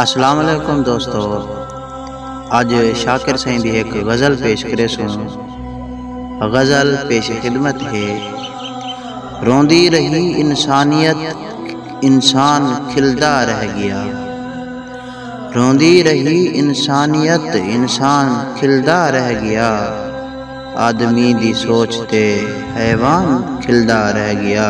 اسلام علیکم دوستو اج شاکر سائیں دی ایک غزل پیش کرے سوں غزل پیش خدمت ہے روندی رہی انسانیت انسان کھلدا رہ گیا روندی رہی انسانیت انسان کھلدا رہ گیا آدمی دی سوچ تے حیوان کھلدا رہ گیا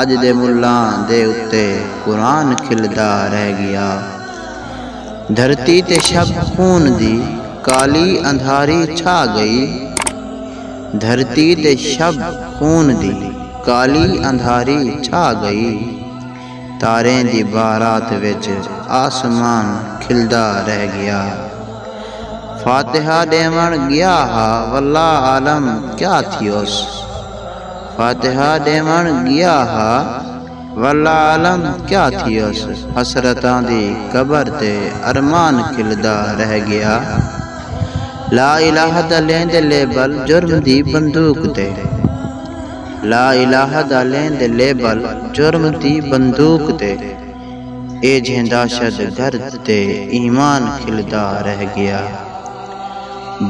اڄ دے ملاں دے اتے قرآن کھلدا رہ ڳیا دھرتی تے شب خون دی کالی اندھاری چھا ڳئی دھرتی تے شب خون دی کالی اندھاری چھا ڳئی تاریں دی بارات وچ آسمان کھلدا رہ ڳیا فاتحہ ݙیوݨ ڳیا ہا واللہ عالم کیا تھیوس۔ فاتحہ ݙیوݨ ڳیا ہا واللہ عالم کیا تھیس حسرتاں دی قبر تے ارمان کھلدا رہ ڳیا لا الہ دا لیندے لیبل جرم دی بندوق تے لا الہ دا لیندے لیبل جرم دی بندوق تے۔ ایجھیں دہشت گرد تے ایمان کھلدا رہ ڳیا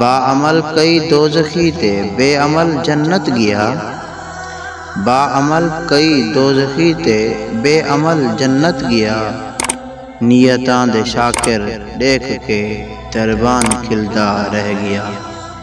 با عمل کئی دوزخی تے بے عمل جنت ڳیا با عمل کئی دوزخی تے بے عمل جنت ڳیا نیتاں دے شاکر ݙیکھ کے دربان کھلدا رہ ڳیا۔